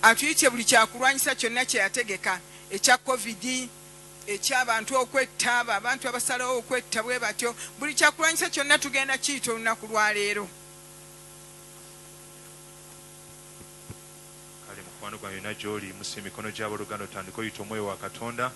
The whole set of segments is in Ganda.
atuyitye buli kyakulwanyisa kyonna kyeyategeka ekya covid ekyabantu okwetta abo abantu abasalawo okwetta bwe batyo buli kyakulwanyisa kyonna tugenda kiyita olunaku lwaleero kale mukwano gwa yonna gyoli musi emikono gyaboluganda otandika oyita omwoyo wa katonda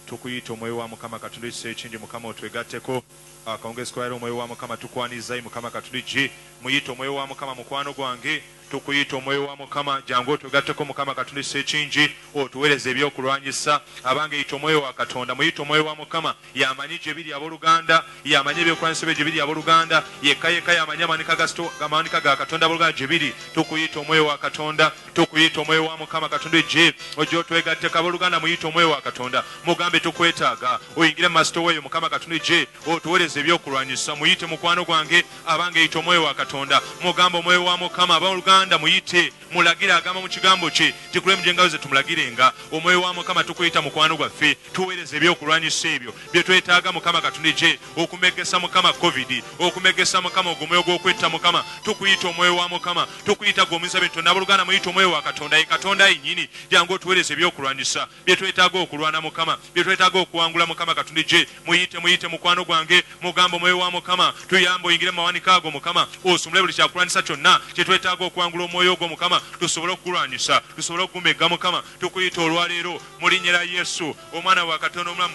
tukuyita omwoyo wa mukama katonda ekisa ekingi mukama otwegatteko Akawungeezi ka leero omwoyo wa mukama tukwaniriza ayi mukama katuliji muyita omwoyo wa mukama mukwano gwange tukuyita omwoyo wa mukama jangu otwegatteko mukama katulisa ekingi otuwereze ebyokulwanyisa abange yita omwoyo wa katonda muyita omwoyo wa mukama yamanyi gyebiri aboluganda yamanyi ebyokulwanyisa ebyo gyebiri aboluganda yekka yekka yamanyi amawanika ga amawanika ga katonda aboluganda gyebiri tukuyita omwoyo wa katonda Tukuyita omwoyo wa mukama katonda ejje ojje otwegatteko aboluganda muyite omwoyo wa katonda mugambe tukwetaaga oyingire masitowa eyo mukama katonda ejje otuwereze ebyokulwanyisa muyite mukwano gwange abange yita omwoyo wa katonda mugambe omwoyo wa mukama aboluganda muyite mulagire agamba mu kigambo kye tikulemu gyengayo ze tumulagirenga omwoyo wa mukama tukuyita mukwano gwaffe tuwereze ebyokulwanyisa ebyo byetwetaaga mukama katonda ejje okumegesa mukama covid okumegesa mukama ogwo omwoyo gwokwetta mukama tukuyita omwoyo wa mukama tukuyita gwe omuyinza bintu nabuluganda muyita omwoyo wa katonda ye katonda yenyini jangu otuwereza ebyokulwanyisa byetwetaaga okulwana mukama byetwetaaga okuwangula mukama katonda gye muyite muyite mukwano gwange mugamba omwoyo wa mukama tuyamba oyingire mu mawanika ago mukama osumule buli kyakulwanyisa kyonna kyetwetaaga okuwangula omwoyo ogwo mukama tusobole okukulwanyisa tusobole okugumegga mukama tukuyita olwaleero mulinyera yesu omwana wa katonda omulamu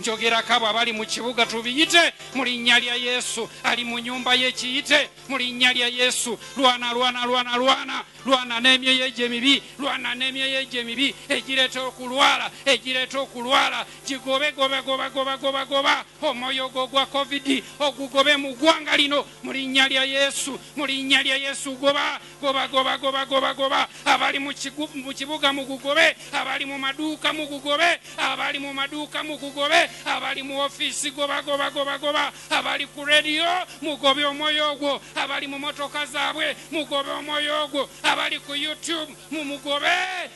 Njogerako abo abali mu kibuga, tubiyite mu linnya lya Yesu. Ali mu nyumba ye, kiyite mu linnya lya Yesu. Lwana, lwana, lwana, lwana, lwana n'emyoyo egyo emibi, lwana n'emyoyo egyo emibi egireeta okulwala, egireeta okulwala. Gigobe, goba, goba, goba, goba, goba omwoyo ogwo ogwa Covid, ogugobe mu ggwanga lino mu linnya lya Yesu, mu linnya lya Yesu, goba. Goba goba goba goba goba abali mu kibuga mugugobe abali mu maduuka mugugobe abali mu maduuka mugugobe abali mu ofiisi goba goba goba goba abali ku rediyo mugobe omwoyo ogwo abali mu motoka zaabwe mugobe omwoyo ogwo abali ku youtube mumugobe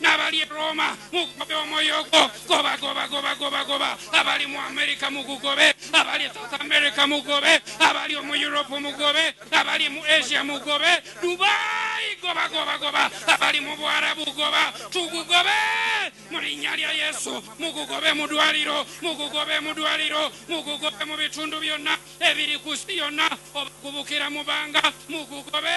n'abali e Roma mugobe omwoyo ogwo goba goba goba goba goba abali mu Amerika mugugobe abali e South America mugobe abali mu Europe mugobe abali mu Asia mugobe Dubai goba goba goba abali mu Bwarabu goba tugugobe mu linnya lya Yesu mugugobe mu dwaliro mugugobe mu dwaliro mugugobe mu bitundu byonna ebiri ku si yonna obakubukira mu banga mugugobe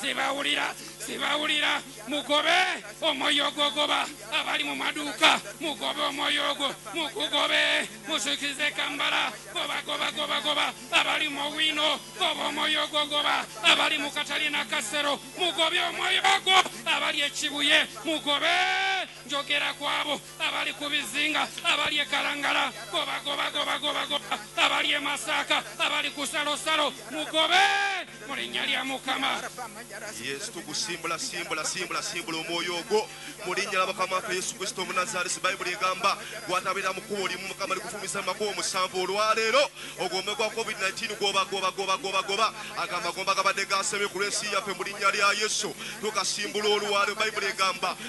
sibawulira sibawulira mugobe omwoyo ogwogoba abali mu maduuka mugobe omwoyo ogwo mukugobe musukize kambala gobagobagobagoba abali mu wino goba omwoyo ogwogoba abali mu katalina kasero mugobe omwoyo ogwo abali ekibuye mugobe njogera kwabo abali ku bizinga abali e kalangala gobagobagobagobagoba abali e masaaka abali ku salosalo mugobe mu linnya lya mukama yesu tugusimbula simbula simbula simbula omwoyo ogwo mu linnya lya mukama waffe yesu kristo omunazaalesi bayibuli egamba gwatabeera mu kkubo limu mukama likufumisa mu makubo omusanvu olwaleero ogwome gwa covid-19 gobagobagobagobagoba agamba gomba gabadde gasemye ku lw'ensi yaffe mu linnya lya yesu tukasimbula olwaleero bayibuli egamba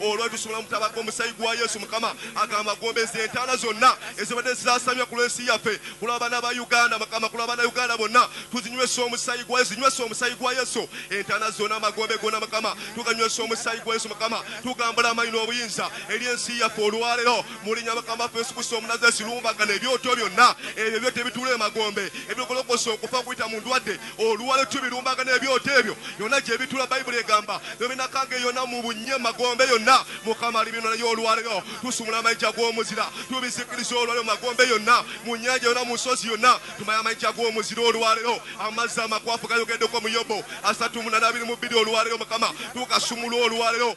Olwo tusobola mutabaga omusayi gwa Yesu mukama agamba gombeza entaana zonna ezibadde zisasamya ku lwensi yaffe kulwa bana ba Uganda mukama kulwa bana Uganda bonna tuzinywesa omusayi gwa Yesu nywesa omusayi gwa Yesu entaana zonna amagombe gonna mukama tuganywesa omusayi gwa Yesu mukama tugambula amanyi n'obuyinza eri ensi yaffe olwalero mulinya mukama ffe Yesu Kristo omunazesi lumbagana ebyoto byonna ebyo byo tebitula emagombe ebigolokosa okufa kuyita mu ndwadde Oluwalo ttu birumbaga n'ebyoto ebyo yonna gye bitula Baibuli egamba byo binakanga eyo yonna mu bunnya emagombe yonna Mukama alibinona yo oluwalo yo tusumula amayinja gw'omuzira tubizikiriza oluwalo magombe yonna mu nyanja yonna mu nsozi yonna tumaya amayinja gw'omuzira oluwalo yo amazzi amakwafu gayogeddeko mu Yobo asatu munana abiri mu bbiri oluwalo yo Mukama tukasumula oluwalo yo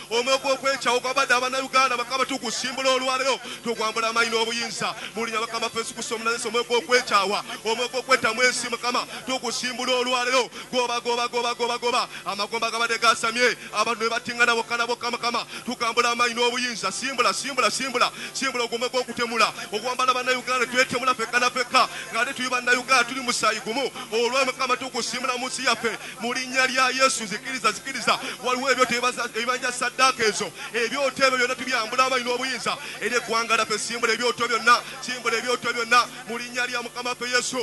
Omwo gw'okwecawo gwabade abana Uganda bakama tugusimbula olwalero tugwambula amanyi n'obuyinza mulinya bakama ffe sukusa omunazesa omwo gw'okwecawa omwo gw'okwetamu ensi mukama tugusimbula olwalero goba goba goba goba goba amagomba agabade gasamye abantu nebatingana boka na boka mukama tugambula amanyi n'obuyinza simbula simbula simbula simbula ogwo omwo gw'okutemula ogwambala bana Uganda twetemula fekka na fekka ng'ate tuli bana Uganda tuli musayi gumu olwa mukama tugusimbula munsi yaffe mu linnya lya yesu zikiriza zikiriza waliwo ebyoto ebibanja saddaaka ezo ebyoto ebyo byonna tubyambula abalina obuyinza eri eggwanga laffe simbula ebyoto byonna simbula ebyoto byonna mu linnya lya mukama waffe yesu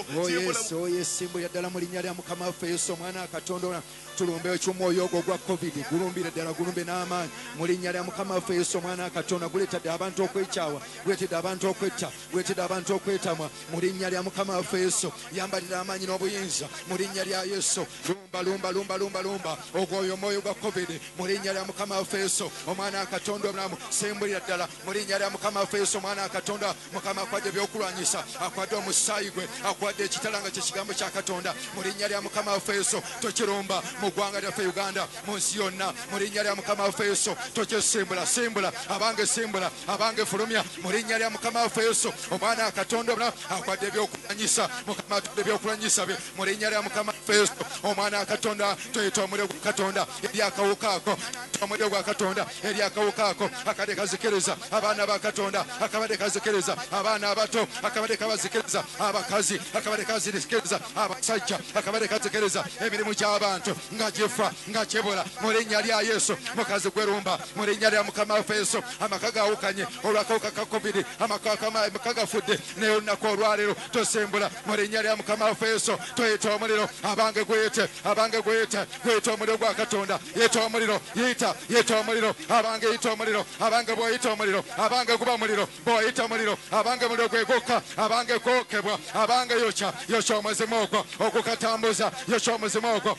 oye simbula ddala mu linnya lya mukama waffe yesu omwana akatonda ona tulumbe ekyomwoyo ogwo ogwa covid gulumbire ddala gulumbe n'amaanyi mu linnya lya mukama waffe yesu omwana akatonda guleetadde abantu okwekyawa guleetedde abantu okwetta Gwetida abantu okwetamwa mu linnya lya Mukama waffe Yesu. Yambalira amaanyi n'obuyinza mu linnya lya Yesu. Lumba, lumba, lumba, lumba, lumba ogwo oyo omwoyo gwa Covid mu linnya lya Mukama waffe Yesu. Omwana wa Katonda omulamu, sembulira ddala mu linnya lya Mukama waffe Yesu. Omwana wa Katonda, Mukama akwadde ebyokulwanyisa, akwadde omusaayi gwe, akwadde ekitala nga kye kigambo kya Katonda mu linnya lya Mukama waffe Yesu. Tokirumba mu ggwanga lyaffe Uganda, mu nsi yonna mu linnya lya Mukama waffe Yesu. Tokyesimbula, simbula abange, simbula abange, fulumya mu linnya lya mukama waffe yesu omwana katonda omula akwadde ebyokulwanyisa mukama atudde ebyokulwanyisa bye mu linnya lya mukama waffe yesu omwana katonda tuyita omuliro gwa katonda eri akawuka ako omuliro gwa katonda eri akawuka ako akade kazikiriza abaana ba katonda akabade kazikiriza abaana abato akabade kabazikiriza abakazi akabade kazikiriza abasajja akabade kazikiriza emirimu gy'abantu nga gifa nga kibula mu linnya lya yesu mukazi gwerumba mu linnya lya mukama waffe yesu amaka gawukanye olwakawuka ka covid amaka gafudde naye olunaku olwaleero tosembula mu linnya lya mukama waffe yesu toyita omuliro abange gweyite abange gweyite gweyita omuliro gwa katonda yita omuliro yita yita omuliro abange yita omuliro abange bwoyita omuliro abange guba muliro bwoyita muliro abange muliro gwegukka abange gwokebwa abange yokya yokya omuzimu ogwo ogukatambuza yokya omuzimu ogwo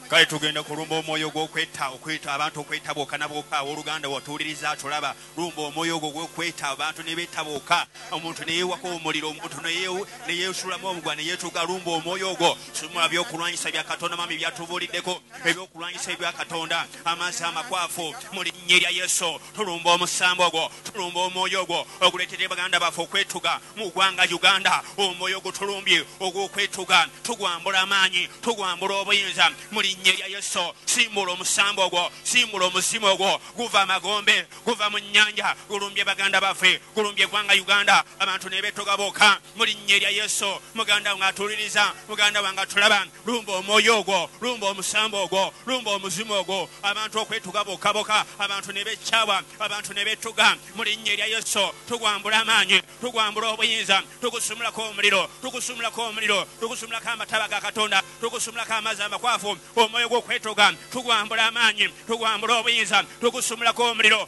Kale tugenda kulumba omwoyo ogw'okwetta, okweta abantu okwetta bokka na bokka. Aw'oluganda watuwuliriza atulaba. Lumba omwoyo ogwo ogw'okwetta, abantu ne betta bokka. Omuntu ne yeewako omuliro, omuntu ne yeewu, ne yeesuulamu obuguwa ne yeetuga. Lumba omwoyo ogwo. Sumulula by'okulwanyisa bya Katonda, Omwami by'atubuuliddeko, eby'okulwanyisa ebya Katonda, amazzi amakwafu. Mu Linnya erya Yesu, tulumba omusambwa ogwo. Tulumba omwoyo ogwo oguleetedde baganda baffe okwetuga. mu gwanga Uganda omwoyo gutulumbye ogw'okwetuga tugwambula amaanyi tugwambula obuyinza mu linnya erya Yesu simbula omusambo ogwo simbula omuzimu ogwo guva amagombe guva mu nnyanja gulumbye baganda baffe gulumbye gwanga Uganda abantu nebetoga boka mu linnya erya Yesu muganda wange atuliriza muganda wange atulaba Lumba omwoyo ogwo, lumba omusambwa ogwo, lumba omuzimu ogwo, abantu okwetuga bokka boka, abantu ne bekkyawa, abantu ne betuga. Mu linnya erya Yesu tugwambula amaanyi, tugwambula obuyinza, tugusumulako omuliro, tugusumulako omuliro, tugusumulako amataba ga Katonda, tugusumulako amazzi amakwafu, omwoyo gw'okwetuga, tugwambula amaanyi, tugwambula obuyinza, tugusumulako omuliro.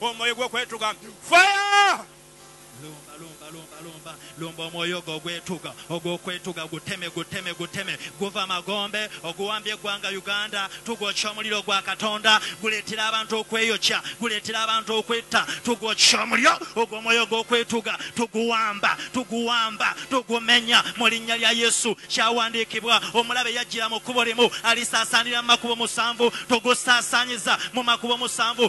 omwoyo gwokwetuga fire lumba lumba lumba lumba lumba omwoyo ogwo ogwetuga ogwokwetuga guteme guteme guteme guva magombe oguwambye eggwanga uganda tugwokya omuliro gwa katonda guleetera abantu okweyokya guleetera abantu okwetta tugwokya omuliro ogwo omwoyo ogwokwetuga tuguwamba tuguwamba tugumenya mu linnya lya yesu kyawandiikibwa omulabe yajjira mu kkubo limu alisaasaanira mu makubo musanvu tugusaasaanyiza mu makubo musanvu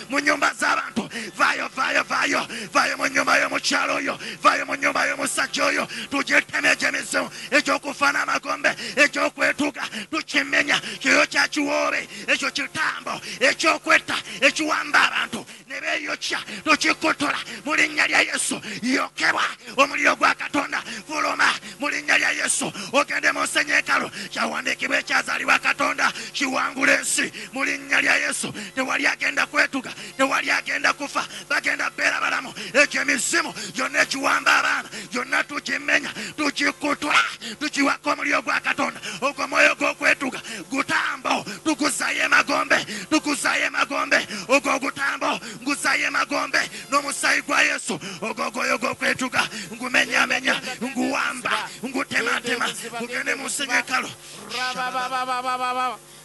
mu nyumba z'abantu vaayo vaayo vaayo vaayo mu nyumba y'omukyalo oyo vaayo mu nyumba y'omusajja oyo tugyetema egyemizimu ekyokufa n'amagombe ekyokwetuga tukimenya kyoyo kya kiwoobe ekyo kitambo ekyokwetta ekiwamba abantu ne beeyokya tukikotola mu linnya lya yesu yokebwa omuliro gwa katonda fuluma mu linnya lya yesu ogende mu nsenyi ekalu kyawandiikibwa ekyazaalibwa katonda kiwangula ensi mu linnya lya yesu tewali agenda kwetuga tewali agenda kufa bagenda beera balamu ekyo emizimu gyonna ekiwamba abaana gyonna tukimenya tukikutwa tukiwako omuliro gwa katonda ogwo mwoyo gw'okwetuga gutambo tukuzayo emagombe tukuzayo emagombe ogwo ogutambo nguzayo emagombe n'omusaayi gwa yesu ogogwoyo gwokwetuga ngumenyamenya nguwamba ngutematema ngugende mu nsenyi ekalo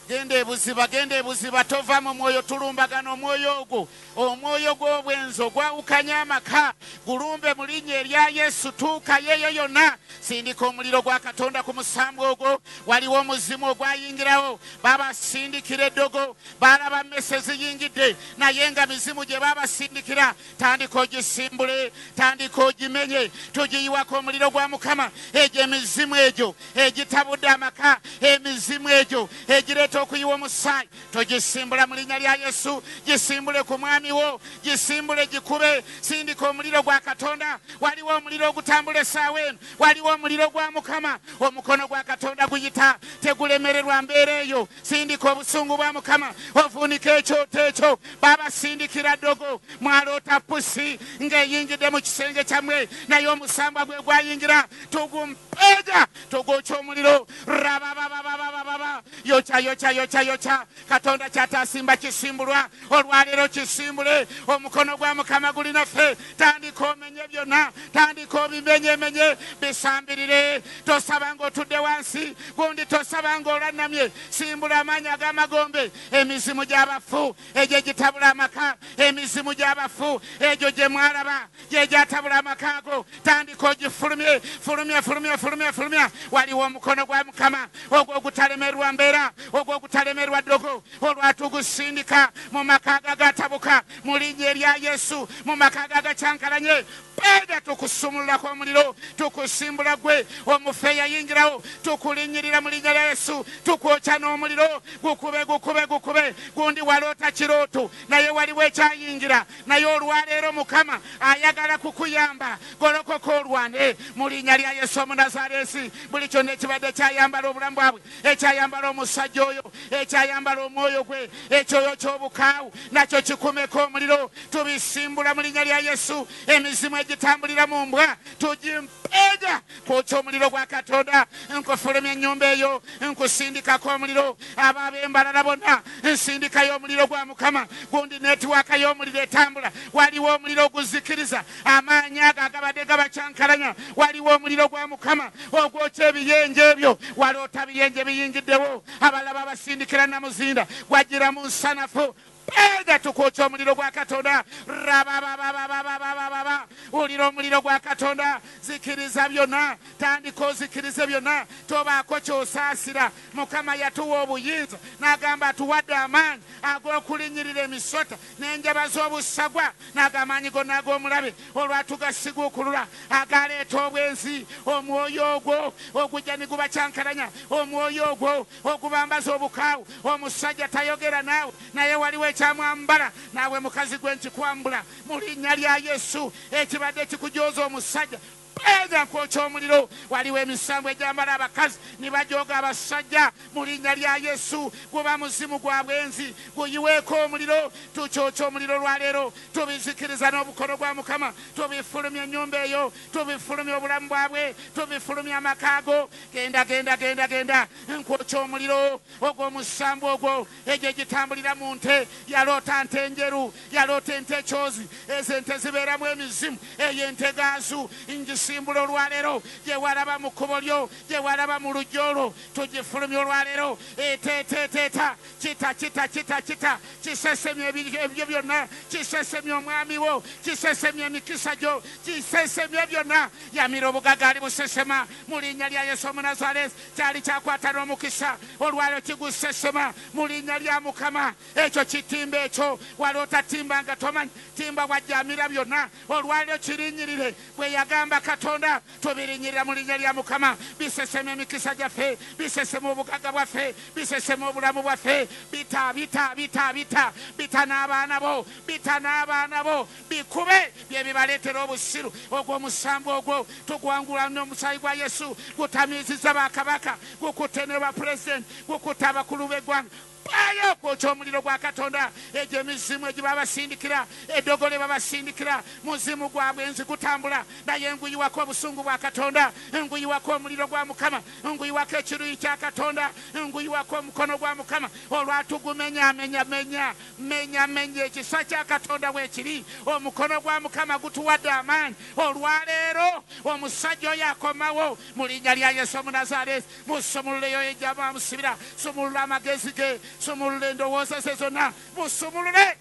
genda ebuziba genda ebuziba tova mu mwoyo tulumbagana omwoyo ogwo omwoyo gw'obwenzi ogwawukanya amaka gulumbe mu linnya erya yesu tuukayo eyo yonna sindika omuliro gwa katonda ku musambwa ogwo waliwo omuzimu ogwayingirawo babasindikira eddogo Baalaba mmese eziyingidde naye nga mizimu gye baabasindikira. Tandika ogisimbule, tandika ogimenye. Tugiyiwako omuliro gwa Mukama. Egyo emizimu egyo egitabudde amaka, emizimu egyo egireeta okuyiwa omusaayi, tugisimbula mu linnya lya Yesu. Gisimbule ku mwami wo, gisimbule gikube. Sindika omuliro gwa Katonda. Waliwo omuliro ogutambula essaawa eno, waliwo omuliro gwa Mukama. Omukono gwa Katonda guyita, tegulemererwa mbeera eyo. sindika obusungu bwa mukama ovuunika ekyoto ekyo babasindikira ddogo mwaloota pusi ng'eyingidde mu kisenge kyammwe naye omusambwa gwe gwayingira tugumpeega tugukya omuliro rababababababa yokya yokya yokya yokya katonda kyatasimba kisimbulwa olwaleero kisimbule omukono gwa mukama guli naffe tandika omenye byonna tandika obimenyemenye bisambirire tosaba ngaotudde wansi gundi tosaba ngaolannamye simbula amaanyi ag'amagombe emizimu gy'abafu egyo egitabula amaka emizimu gy'abafu egyo gye mwalaba gye gyatabula amaka ago tandika ogifulumye fulumya fulumya fulumya fulumya waliwo omukono gwa mukama ogwo ogutalemerwa mbeera ogwo ogutalemerwa ddogo olwatugusindika mu makaaga agatabuka mu linnya erya yesu mu makaaga agakyankalanye peeda tukusumululako omuliro tukusimbula gwe omufe eyayingirawo tukulinyirira mu linnya lya yesu tukwokya n'omuliro gukube gukube gukube gundi waloota kirooto naye waliwo ekyayingira naye olwaleero mukama ayagala kukuyamba golokoka olwane mu linnya lya yesu omunazareesi buli kyonna ekibadde kyayambala obulamu bwabwe ekyayambala omusajja oyo ekyayambala omwoyo gwe ekyoyo ky'obukaawu nakyo kikumeko omuliro tubisimbula mu linnya lya yesu emizimu egitambulira mu mbwa tugimpeega kwokya omuliro gwa katonda nkufulumya ennyumba eyo nkusindikako omuliro abo ab'embalala bonna nsindikayo omuliro gwa mukama gundi netiwaaka y'omuliro etambula waliwo omuliro oguzikiriza Amaanyi ago agabadde gabacankalanya, waliwo omuliro gwa Mukama ogwokya ebiyenje ebyo. Waloota biyenje biyingiddewo, abalala babasindikira namuzinda gwajjira mu nsanafu. Peega tukwokya omuliro gwa Katonda. Rabababababababababa. Wulira omuliro gwa Katonda. Zikiriza byonna. Tandika ozikirize byonna. Tobaako ky'osaasira. Mukama yatuwa obuyinza n'agamba atuwadde amaanyi ag'okulinnyirira emisota. n'enjaba z'obussagwa, n'ag'amaanyi gonna ag'omulabe, olwatugasiguukulula, agaaleeta obwenzi, omwoyo ogwo ogujja ni gubacankalanya, omwoyo ogwo ogubambaza obukaawu. Omusajja tayogera naawe, naye waliwo ekyamwambala. Naawe mukazi gwe nkikwambula mu Linnya lya Yesu, ekibadde kikujooza omusajja. Page akwokya omuliro waliwo emisango egyambala abakazi nibajooga abassajja mulinya lya yesu guba muzimu gwa bwenzi guyiweeko omuliro tukyokya omuliro olwaleero tubizikiriza nobukodo gwa mukama tubifulumya enyumba eyo tubifulumya obulamu bwabwe tubifulumya amaka ago genda genda genda genda nkwokya omuliro ogwo omusambu ogwo egyo egitambulira mu nte yaloota nte njeru yaloota ente ekyozi ezo ente zibeeramu emizimu eyo ente gaazu ngisimbula olwaleero gyewalaba mu kkubo lyo gyewalaba mu lujja olwo tugifulumya olwaleero eteeteeteeta kita kita kita kita kisesemya ebyo byonna kisesemya omwami wo kisesemya emikisa gyo kisesemya byonna yamira obugaga ali busesema mu linnya lya yesu omunazaresi Kyali kyakwata n'omukisa, olwaleero kigusse ssema mu linnya lya Mukama. Ekyo kitimba ekyo wali otatimba nga tomanyi timba bwajja amira byonna olwaleero kirinyirire bwe yagamba Katonda. Tubirinyirira mu linnya lya Mukama. Bisesema emikisa gyaffe, bisesema obugagga bwaffe, bisesema obulamu bwaffe. Bita, bita, bita, bita, bita n'abaana bo, bita n'abaana bo. bikube byebibaletera obusiru ogwo omusango ogwo tugwangula nomusaayi gwa yesu gutamiiziza ba kabaka gukutte ne ba president gukutte abakulu begwanga bayo kwokya omuliro gwa katonda egyo emizimu egibabasindikira edogo lyebabasindikira muzimu gwabwe nzi gutambula naye nguyiwako obusungu bwa katonda nguyiwako omuliro gwa mukama nguyiwako ekiruyi kya katonda nguyiwako omukono gwa mukama olwatugumenyamenyamenya Mmenyamenya ekisa kya Katonda. Bwe kiri. Omukono gwa Mukama gutuwadde amaanyi olwa leero. Omusajja oyo akomawo, mu Linnya lya Yesu Omunazaaleesi. Musumulule y'oyo gye mwamusibira. Sumulula amagezi ge. Sumulula endowooza ze zonna. Musumulule.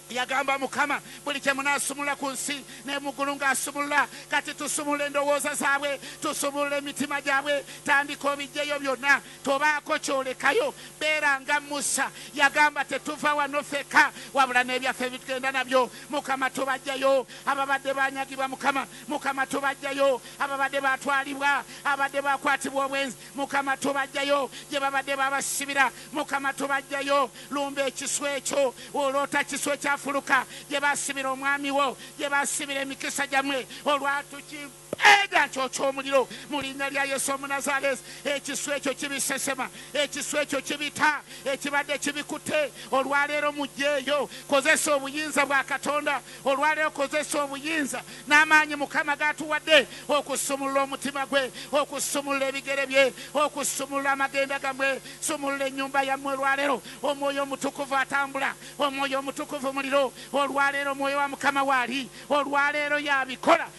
Yagamba, Mukama, buli kye munaasumulula ku nsi, ne mu ggulu ng'asumulula. Kati tusumulula endowooza zaabwe. Tusumulula emitima gyabwe. Tandika obiggyeyo byonna. Tobaako ky'olekayo. Beera nga Musa. Yagamba, Tetuva wano ffekka, wabula n'ebyaffe bye tugenda nabyo. Mukama, tubaggyayo ababadde baanyagibwa, Mukama. Mukama, tubaggyayo ababadde baatwalibwa, ababadde baakwatibwa obwenzi, Mukama. Tubaggyayo gye babadde babasibira, Mukama. Tubaggyayo. Lumba ekisu ekyo. Oloota kisu ekyafuluka gye baasibira Omwami Wo, gye baasibira emikisa gyammwe olwatuki. Eda nkyokya omuliro mu linnya lya Yesu Omunazaleesi. Ekisu ekyo kibisesema, ekisu ekyo kibita ekibadde kibikutte. Olwaleero mujjeeyo, kozesa obuyinza bwa Katonda. Olwaleero kozesa obuyinza n'amaanyi Mukama g'atuwadde okusumulula omutima gwe, okusumulula ebigere bye, okusumulula amagenda gamwe. Sumulula ennyumba yammwe olwaleero. Omwoyo Omutukuvu atambula. Omwoyo Omutukuvu muliro. Olwaleero Omwoyo wa Mukama waali. Olwaleero y'abikola.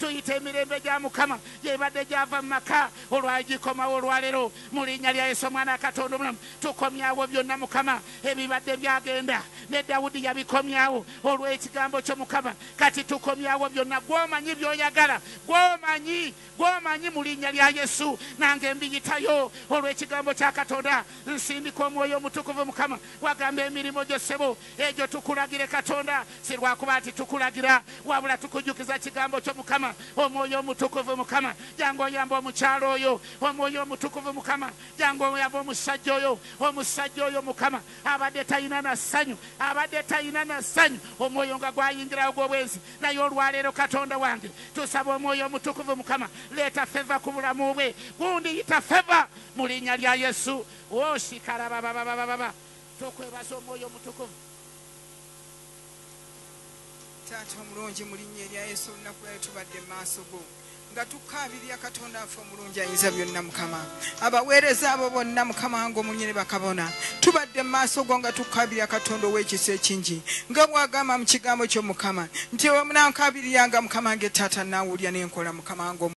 Tuyita emirembe gya mukama gyebadde gyava mumaka olwali gikomawo olwalero mulinya lya yesu omwana wa katonda omulamu tukomyawo byonna mukama ebibadde byagenda ne Dawudi yabikomyawo olwekigambo kyo mukama kati tukomyawo byonna gwomanyi byoyagala gwomanyi gwomanyi mulinya lya yesu nange mbiyitayo olwekigambo kya katonda nsindika omwoyo omutukuvu mukama wagamba emirimo gyo sebo Egyo tukulagire Katonda, si lwakuba nti tukulagira, wabula tukujjukiza Kigambo Kyo, Mukama. Omwoyo Omutukuvu, Mukama, jangu oyambe omukyala oyo. Omwoyo Omutukuvu, Mukama, jangu oyambe omusajja oyo, omusajja oyo, Mukama, abadde talina na ssanyu, abadde talina na ssanyu, omwoyo nga gwayingirawo ogw'obwenzi. Naye olwa leero, Katonda wange, tusaba Omwoyo Omutukuvu, Mukama, leeta feva ku bulamu bwe. Gundi, yita feva, mu Linnya lya Yesu. O, shikarababababababa! Tukwebaza Omwoyo Omutukuvu. Taata omulungi mu linnya erya Yesu olunaku lwayo tubadde mu maaso go nga tukaabirira katonda waffe omulungi ayinza byonna mukama abaweereza abo bonna mukama wange omunyini bakabona tubadde mu maaso go nga tukaabirira katonda ow'ekisa ekingi nga bwagamba mu kigambo kyo mukama nti wemunankabiriranga mukama nge taata naawulira nenkola mukama wange